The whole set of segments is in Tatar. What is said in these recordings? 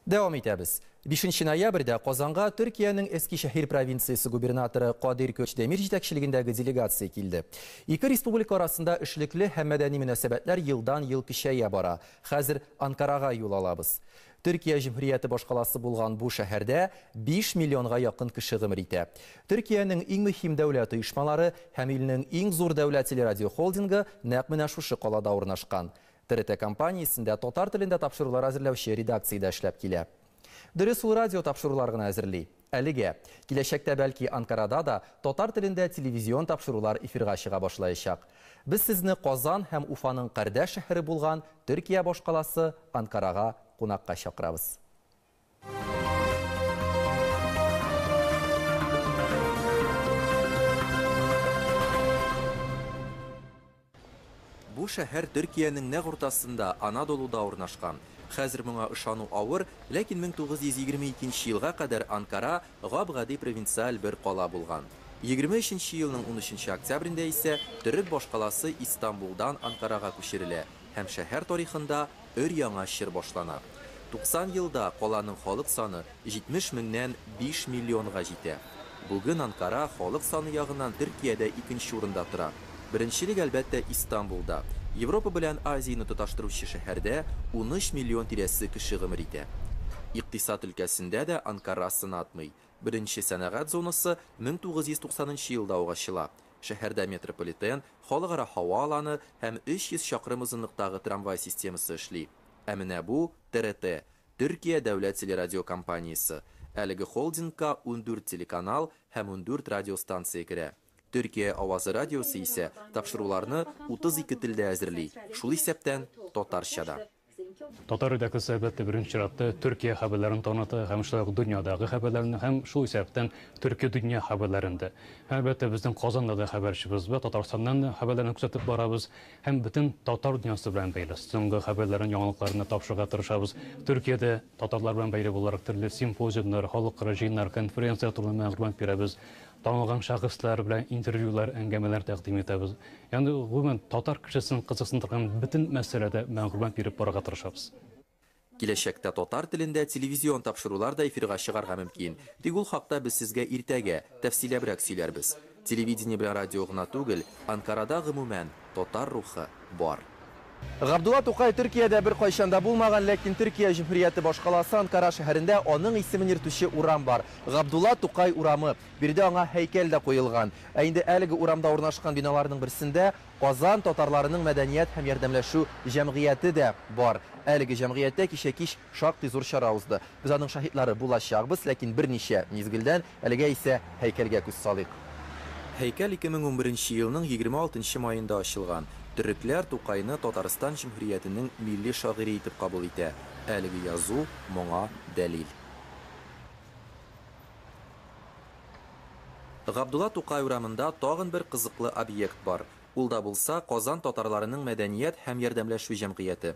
Дәвам итәбез. 5 ноябрьдә Казанга Төркиянең Эскишәһир провинциясе губернаторы Кадир Көчдемир җитәкчелегендәге делегация килде. Ике республика арасында эшлекле һәм мәдәни мөнәсәбәтләр елдан-ел көчәя бара. Хәзер Анкарага юл алабыз. Төркия җөмһүрияте башкаласы булган бу шәһәрдә 5 миллионга якын кеше гомер итә. Төркиянең иң мөһим дәүләт оешмалары һәм илнең иң зур дәүләт телерадиохолдингы нәкъ менә шушы калада урнашкан. ТРТ компаниясендә татар телендә тапшырулар әзерләүче редакциядә эшләп килә. Дөрес, ул радио тапшырулар гына әзерли. Әлегә. Киләчәктә, бәлки, Анкарада да татар телендә телевизион тапшырулар эфирга чыга башлаячак. Без сезне Казан һәм Уфаның кардәш шәһәре булган Төркия башкаласы Анкарага кунакка чакырабыз. Бу шәһәр Төркиянең нәкъ уртасында, Анадолуда урнашкан. Хәзер моңа ышану авыр, ләкин 1922 нче елга кадәр Анкара гап-гади провинциаль бер кала булган. ХХ нче елның унөченче октябрендә исә төрек башкаласы Истанбулдан Анкарага күчерелә һәм шәһәр тарихында өр-яңа чор башлана. 90 елда каланың халык саны 70 меңнән 5 миллионга җитә. Бүген Анкара халык саны ягыннан Төркиядә икенче урында тора. Беренчелек, әлбәттә, Истанбулда. Европа белән Азияне тоташтыручы шәһәрдә 13 миллион тирәсе кеше гомер итә. Икътисад өлкәсендә дә Анкара сынатмый. Беренче сәнәгать зонасы 1990 нчы елда ук ачыла. Шәһәрдә метрополитен, халыкара һава аланы һәм 300 чакрым озынлыктагы трамвай системасы эшли. Ә менә бу, ТРТ, Төркия дәүләт телерадиокомпаниясе. Әлеге холдингка ундүрт телеканал һәм ундүрт радиостанция керә. Төркия авазы радиосы исә тапшыруларны 32 телдә әзерли, шул исәптән татарча да. Татар радиосы сәбәте беренче чиратта Төркия хәбәрләрен таныта һәм шулай ук дөньядагы хәбәрләрне һәм шул исәптән төрки дөнья хәбәрләрен дә. Һәм әлбәттә безнең Казанда да хәбәрчебез бар, Татарстаннан да хәбәрләрне күзәтеп барабыз һәм бөтен татар дөньясы белән бәйле соңгы хәбәрләрен, яңалыкларны тапшырырга тырышабыз. Төркиядә татарлар белән бәйле буларак төрле симпозиумнар, халыкара җыеннар, конференцияләр турында мәгълүмат бирәбез. Танылган шәхесләр белән интервьюлар, әңгәмәләр тәкъдим итәбез. Ягъни, гомумән, татар кешесен кызыксындырган бөтен мәсьәләдә мәгълүмат биреп барырга тырышабыз. Киләчәктә татар телендә телевизион тапшырулар да эфирга чыгарга мөмкин. Тик ул хакта без сезгә иртәгә, тәфсиләбрәк сөйләрбез. Телевидение белән радио гына түгел, Анкарада, гомумән, татар рухы бар. Габдулла Тукай Төркиядә беркайчан да булмаган, ләкин Төркия җөмһүрияте башкаласы Анкара шәһәрендә аның исемен йөртүче урам бар, Габдулла Тукай урамы. Биредә аңа һәйкәл дә куелган. Ә инде әлеге урамда урнашкан биналарның берсендә Казан татарларының мәдәният һәм ярдәмләшү җәмгыяте дә бар. Әлеге җәмгыятьтә кичә кич Шактый зур чара узды. Без аның шаһитлары булачакбыз, ләкин берничә мизгелдән, әлегә исә һәйкәлгә күз салыйк. Һәйкәл 2011 нче елның 26 нчы маенда ачылган. Төрекләр Тукайны Татарстан Җөмһүриятенең милли шагыйре итеп кабул итә. Әлеге язу моңа дәлил. Габдулла Тукай урамында тагын бер кызыклы объект бар. Ул да булса, Казан татарларының мәдәният һәм ярдәмләшү җәмгыяте.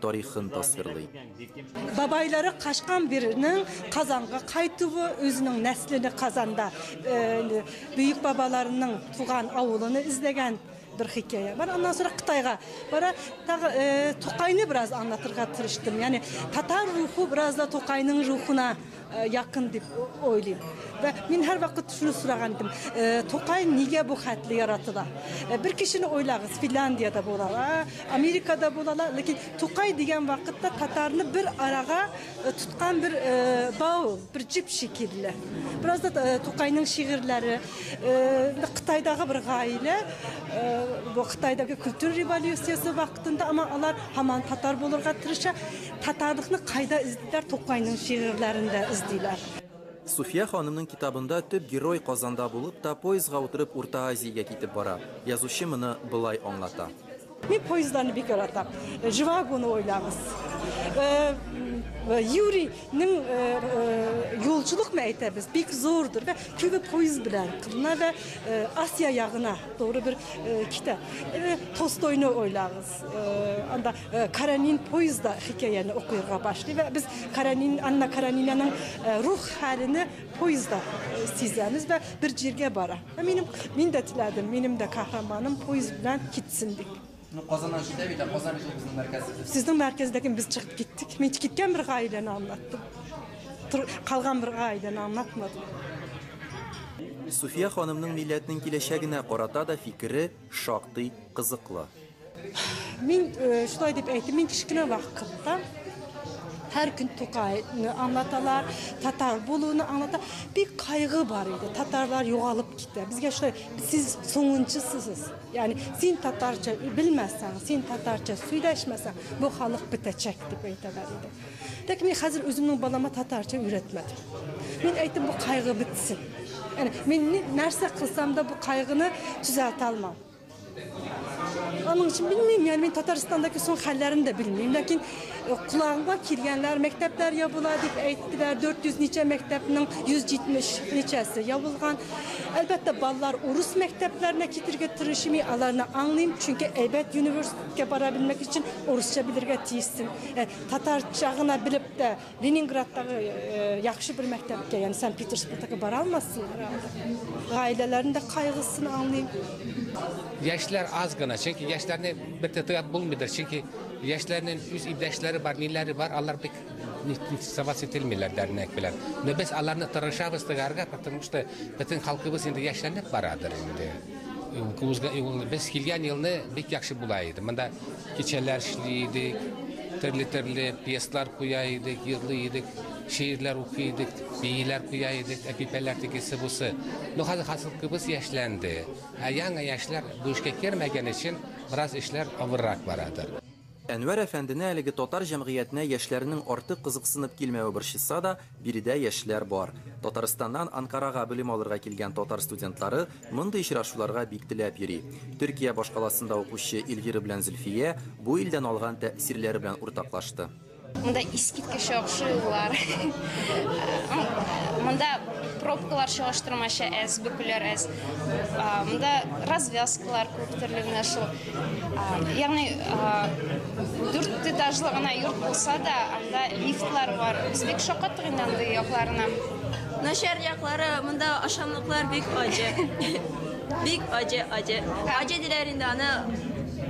тарихын тасвирлый. Бабайлары качкан бирнең Казанга кайтуы, үзенең нәслине Казанда бөек бабаларының туган авылыны эзләгән бер хикәя бар. Аннан соң Кытайга бара, тагы Тукайны бераз аңлатырга тырыштым. Ягъни татар рухы бераз да Тукайның рухына Э, якын дип ойлыйм вә мин һәрвакыт шуны сораган идем э, тукай нигә бу хәтле яратыла э, бер кешене ойлагыз финляндиядә булалар америкада булалар ләкин тукай дигән вакытта татарны бер арага тоткан бер бау бер җип шикелле бераз да тукайның шигырьләре кытайдагы бер гаилә бу кытайдагы культура революциясе вакытында ама алар һаман татар булырга тырыша Татарлыкны кайда эзлиләр? Тукайның шигырьләрендә эзлиләр. Суфия ханымның китабында төп герой Казанда булып та, поездга утырып Урта Азиягә китеп бара. Язучы моны болай аңлата. Мин поездларны бик яратам. Живагоны уйлагыз. Юрий ның юлчылык мә әйтәбез, бик зурдыр да, күбе поезд белән кына да Асия ягына туры бер китә. Толстойны уйлагыз. анда э, Каранин поезда хикәяне укырга башлый ва без Каранин Анна Каранинаның э, рух хәлене поезда э, сизәбез ва бер җиргә бара. Минем мин дә теләдем, минем дә каһарманым поезд белән китсен дип. Ну, Казаннан китә бит, Казан бит безнең мәркәзебез. Сезнең мәркәздәген без чыгып киттек. Мин киткән бер гаиләне аңлаттым. Калган бер гаиләне аңлатмадым. Суфия ханымның милләтнең киләчәгенә карата да фикере Шактый кызыклы. Мин шулай дип әйтим, мин кечкенә вакытта һәр көн Тукайны аңлаталар, татар булуны аңлата. Бик кайгы бар иде. Татарлар югалып китә. Безгә шулай сез соңынчысыз. Ягъни син татарча белмәсәң, син татарча сөйләшмәсәң, бу халык бетәчәк дип әйтәләр иде. Ләкин мин хәзер үземнең балама татарча өйрәтмәдем. Мин әйтем, бу кайгы бетсен. Әне, мин нәрсә кылсам да бу кайгыны төзәтә алмам. Аның өчен белмим, яни мин Татарстандагы соң хәлләрен дә белмим, ләкин э, кулагыма килгәннәр, мәктәпләр ябыла дип әйттеләр, 400 ничә мәктәпнең 170 ничәсе ябылган. Әлбәттә, балалар урыс мәктәпләренә китергә тырышмый, аларны аңлыйм, чөнки әйбәт университетка бара белмәк өчен урысча белергә тиессең. Э, Татарча гына белеп тә Ленинградтагы яхшы бер мәктәпкә, ягъни Санкт-Петербургтагы бара алмассыңар. Гаиләләрнең дә кайгысын аңлыйм. Яшьләр аз гына, чөнки яшьләрне бер дә тояп булмыйдыр, чөнки яшьләрнең үз иптәшләре бар, ниләре бар, алар бик нитсоваться ителмиләр дәрнәк белән. Но без аларны тырышабыз тыярга, потому что бөтен халкыбыз инде яшьләнеп барадыр инде. Без килгән елны бик яхшы була иде. Монда кичәләр эшли идек, төрле-төрле пьеслар куя идек, йырлый идек, шигырьләр укый идек, бииләр куя идек, әпипәләр тегесе бусы. Ну хәзер хасылкыбыз яшьләнде. Ә яңа яшьләр бу эшкә кермәгән өчен бераз эшләр авыррак барадыр. Әнвәр әфәндене әлеге татар җәмгыятенә яшьләрнең артык кызыксынып килмәве борчыса да, биредә яшьләр бар. Татарстаннан Анкарага белем алырга килгән татар студентлары мондый очрашуларга бик теләп йөри. Төркия башкаласында укучы Эльвира белән Зөлфия бу илдән алган тәэсирләре белән уртаклашты. Монда искиткеч яхшы юллар. Монда пробкалар чагыштырмача әз, бөкүләр әз. Монда развязкалар күп төрле менә шул. Ягъни дүрт этажлы гына йорт булса да, анда лифтлар бар. Без бик шакаттык инде андый якларына. Начар яклары монда ашамлыклар бик аҗы. Бик аҗы, аҗы. Аҗы диләр инде аны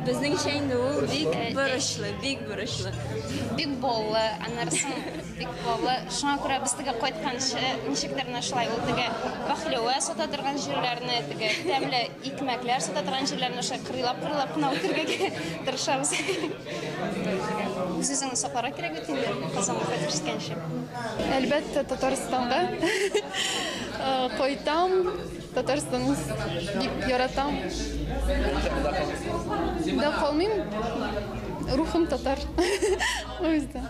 безнеңчә инде ул бик борычлы, бик Бурычлы. Бик боллы, аннары соң бик боллы. Шуңа күрә без теге кайтканчы ничектер менә шулай ул теге бахлева сата торган җирләрне, теге тәмле икмәкләр сата торган җирләрне шулай кырыйлап кырыйлап кына үтергә тырышабыз. Үзеңне сакларга кирәк бит инде Казанга кайтып җиткәнче. Әлбәттә, Татарстанга кайтам. Татарстанны бик яратам. Да калмыйм. Рухым татар. О yüzden.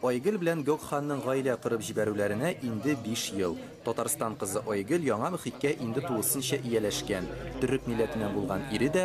Айгөл белән Гокханның гаилә корып җибәрүләренә инде биш ел. Татарстан кызы Айгөл яңа мөхиткә инде тулысынча ияләшкән. Төрек милләтеннән булган ире дә,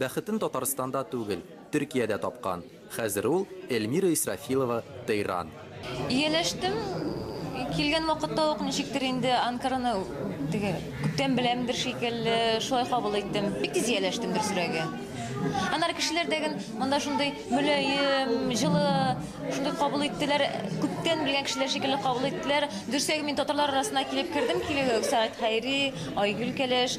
Бәхетен Татарстанда түгел, Төркиядә тапкан. Хәзер ул, Эльмира Исрафилова, Тейран. Ияләштем. Килгән вакытта ук ничектер инде Анкараны теге күптән беләмдер шикелле, шулай кабул иттем. Бик тиз ияләштем, дөресрәге. Аннары кешеләр дә ген монда шундый мөлаем, җылы, шундый кабул иттеләр, күптән белгән кешеләр шикелле кабул иттеләр. Дөресрәге, мин татарлар арасына килеп кердем, килүгә үк Сәгать Хәйри, Айгөл Кәләш,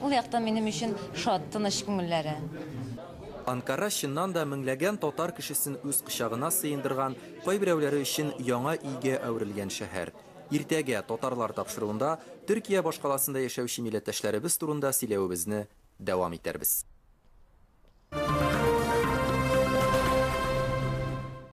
Ул яктан минем өчен шат, тыныч күңелләре. Анкара чыннан да меңләгән татар кешесен үз кочагына сыендырган, кайберәүләре өчен яңа өйгә әверелгән шәһәр. Иртәгә, татарлар тапшыруында, Төркия башкаласында яшәүче милләттәшләребез турында сөйләвебезне дәвам итәрбез.